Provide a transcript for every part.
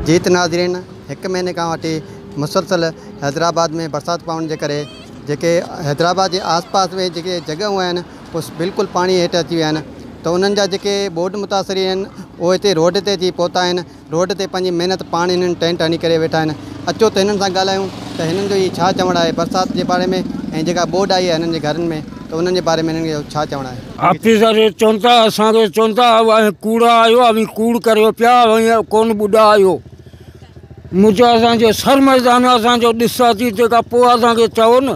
جيت ناظرين هڪ مهيني کان وٺي مسلسل حيدرآباد ۾ برسات پوڻ جي ڪري جيڪي حيدرآباد جي آس پاس ۾ جيڪي جڳهيون آهن اوس بلڪل پاڻي هيٺ اچي ويا آهن ته انهن جا جيڪي ٻوڏ متاثرين آهن اهي هتي روڊ تي اچي پهتا آهن روڊ تي پنهنجي محنت پاڻ هنن ٽينٽ هڻي ڪري ويٺا آهن اچو ته هنن سان ڳالهايون ته هنن جو هي ڇا چوڻ آهي برسات جي باري ۾ ۽ جيڪا ٻوڏ آئي آهي هنن جي گهرن ۾ ته انهن جي باري ۾ هنن جو ڇا چوڻ آهي. آفيسر چون ٿا اسان کي چون ٿا اوهين ڪوڙا آهيو اوهين ڪوڙ ڪريو پيا اوهين ڪون ٻڏا آهيو مون چيو اسان جو سر ميدان اسان جو ڏس اچي تنهن کان پوء اسان کي چئو نه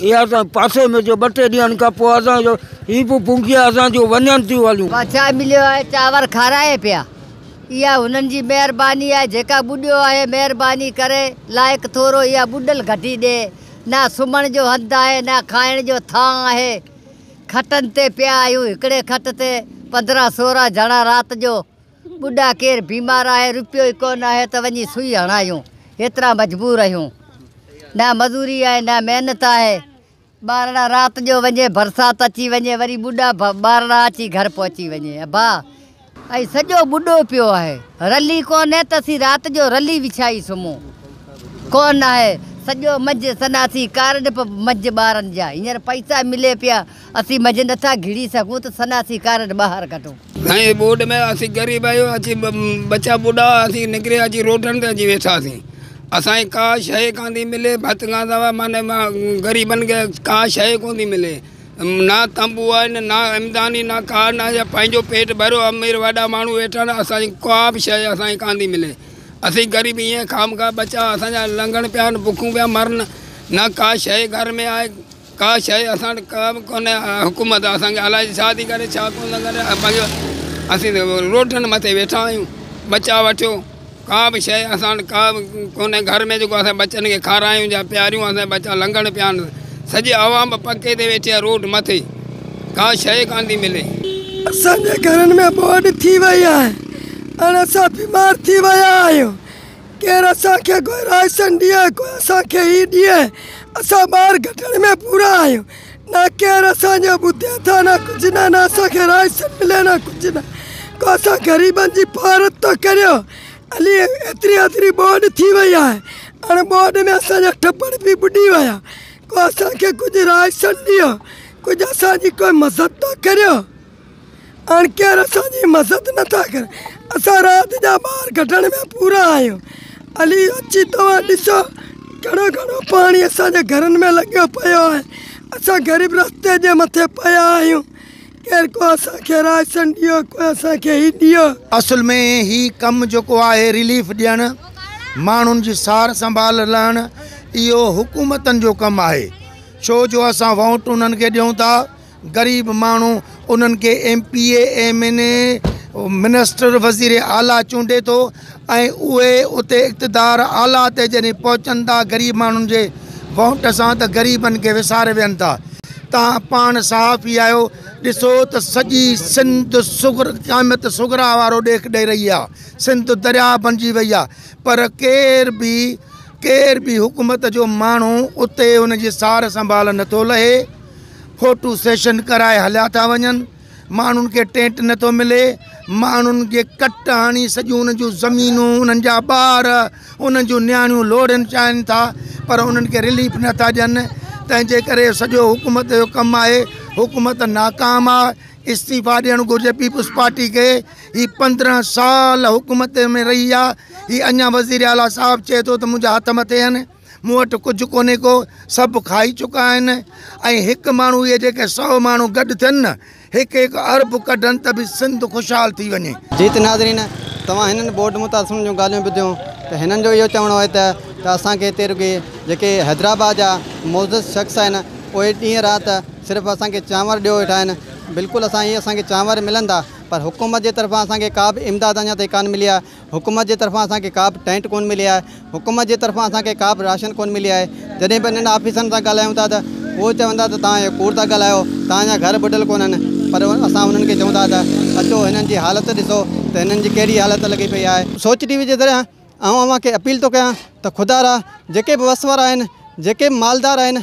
اهي اسان پاسي ۾ جو ٻه ٽي ڏينهن کان پوء اسان جو هي به پونگيا اسان جون وڃن ٿيون هليون. بادشاهه مليو آهي چانور کارائي پيا. اها هنن جي مهرباني آهي جيڪا ٻڏيو آهي مهرباني ڪري لائق ٿورو اها ٻڏل گهٽي ڏي. نه سمهڻ جو هنڌ آهي نه کائڻ جو ٿانء آهي. کٽن تي پيا آهيون هڪڙي کٽ تي پندرهن سورهن جڻا رات جو. ٻڍا ڪير بيمار آهي روپيو ئي ڪو نه آهي ته وڃي سوئي هڻايون هيترا مجبور اهيون نه مزوري آهي نه محنت آهي ٻارڙا رات جو وڃي برسات اچي وڃي وري ٻڍا ٻارڙا اچي گهر پهچي وڃي ابا ۽ سڄو ٻڍو پيو آهي رلي ڪونه ته اسين رات جو رلي وڇائي سمهون ڪو نه آهي سڄو منجهه سناسي ڪارڊ به منجهه ٻارن جا هينئر پئسا ملي پيا اسين مجهه نٿا گهڙي سگهون ته سناسي ڪارڊ ٻاهر ڪڍو. سائين ٻوڏ ۾ اسين غريب آهيون اسين ٻچا ٻڍا اسين نڪري اچي روڊن تي اچي ويٺاسين اسان کي ڪا شيء ڪانه ٿي ملي ڀت کان سواء معنيٰ غريبن کي ڪا شيء ڪونه ٿي ملي نه تنبو آهن نه امداني نه ڪا نه يا پنهنجو پيٽ ڀريو امير وڏا ماڻهو ويٺا آهن اسان جي ڪا به شيء اسان کي ڪانه ٿي ملي اسين غريب ائين خامخواه ٻچا اسان جا لنگهن پيا آهن بکون پيا مرن نه ڪا شيء گهر ۾ آهي. ڪا شيء اسان وٽ ڪا به ڪونهي حڪومت اسان کي الائي ڇا ٿي ڪري ڇا ڪونه ٿي ڪري پنهنجو اسين ته روڊن مٿي ويٺا آهيون ٻچا وٺيو ڪا به شيء اسان وٽ ڪا به ڪونهي گهر ۾ جيڪو اسان ٻچن کي کارايون يا پياريون اسان جا ٻچا لنگڙ پيا آهن سڄي عوام به پڪي تي ويٺي آهي روڊ مٿي ڪا شيء ڪانه ٿي ملي اسان جي گهرن ۾ ٻوڏ ٿي وئي آهي ۽ اسان بيمار ٿي ويا آهيون ڪير اسان کي گهرائيسن ڏينهن ڪو اسان کي هي ڏينهن اسان ٻار گهٽڻ ۾ پورا آهيون نه ڪير اسان جو ٻڌي ٿا نه ڪجهه نه نه اسان کي رائيسن ملي نه ڪجهه نه ڪو اسان غريبن جي پارت ٿو ڪريو علي ايتري اڌري ٻوڏ ٿي وئي آهي اڻ ٻوڏ ۾ اسان جا ٽٻر به ٻڏي ويا ڪو اسان کي ڪجهه رائيسن ڏيو ڪجهه اسان جي ڪو مذد ٿو ڪريو. اڻڪير اسان جي مزت نه ٿا ڪرن، اسان رات جا ٻار ڪڍڻ ۾ پورا آهيون. علي، اچي توهان ڏسو، گهڻو گهڻو پاڻي اسان جي گهرن ۾ لڳيو پيو آهي. اسان غريب رستي جي مٿي پيا آهيون. ڪير ڪو اسان کي رائسن ڏيو، ڪو اسان کي هي ڏيو. اصل ۾ هي ڪم جيڪو آهي رليف ڏيڻ، ماڻهن جي سار سنڀال لهڻ، اهو حڪومتن جو ڪم آهي، ڇو جو اسان ووٽ انهن کي ڏيون ٿا. غريب ماڻهو انهن کي M P A, M N A, minister, وزير اعليٰ چونڊي ٿو ۽ اهي اتي اقتدار اعليٰ تي جڏهن پهچن ٿا غريب ماڻهن جي ووٽ سان ته غريبن کي وساري ويهن ٿا. توهان پاڻ صحافي آهيو ڏسو ته سڄي سنڌ صغر قائميت صغرا وارو ڏيک ڏئي رهي آهي. سنڌ درياء بڻجي وئي آهي پر ڪير به ڪير به حڪومت جو ماڻهو اتي ان جي سار سنڀال نٿو لهي. فوٽو سيشن ڪرائي هليا ٿا وڃن، ماڻهن کي ٽينٽ نه ٿو ملي، ماڻهن کي ڪٽ هڻي سڄيون انهن جون زمينون، انهن جا ٻار، انهن جون نياڻيون لوڙهين چاهين ٿا پر انهن کي رليف نه ٿا ڏين، تنهن جي ڪري سڄو حڪومت جو ڪم آهي، حڪومت ناڪام آ، استعيفا ڏيڻ گهرجي پيپلز پارٽي کي، هي پندرهن سال حڪومت ۾ رهي آ، هي اڃان وزيراعليٰ صاحب چئي ٿو ته منهنجا هٿ مٿي آهن. مون وٽ ڪجهه ڪونهي ڪو، سڀ کائي چڪا آهن. ۽ هڪ ماڻهو اهي جيڪي سؤ ماڻهو گڏ ٿين نه، هڪ هڪ ارب ڪڍن ته به سنڌ خوشحال ٿي وڃي. جي ته ناظرين توهان هنن بورڊ متاثرن جون ڳالهيون ٻڌيون ته هنن جو اهو چوڻ آهي ته ته اسان کي هتي رڳي جيڪي حيدرآباد جا معزز شخص آهن اهي ڏينهن رات صرف اسان کي چانور ڏيو ويٺا آهن بلڪل اسان اهي اسان کي چانور ملندا پر حڪومت جي طرفان اسان کي ڪا به امداد اڃا تائين ڪانه ملي آهي. حڪومت جي طرفان اسان کي ڪابه ٽينٽ ڪونه ملي آهي حڪومت جي طرفان اسان کي ڪابه راشن ڪونه ملي آهي جڏهن به انهن آفيسرن سان ڳالهايون ٿا ته اهو چون ٿا ته توهان اهو ڪوڙ ٿا ڳالهايو توهان جا گهر ٻڏل ڪونهن پر اسان انهن کي چون ٿا ته اچو هنن جي حالت ڏسو ته هنن جي ڪهڙي حالت لڳي پئي آهي سوچ ٽي وي جي ذريعي آئون اوهان کي اپيل ٿو ڪيان ته خدارا جيڪي به وس وارا آهن جيڪي به مالدار آهن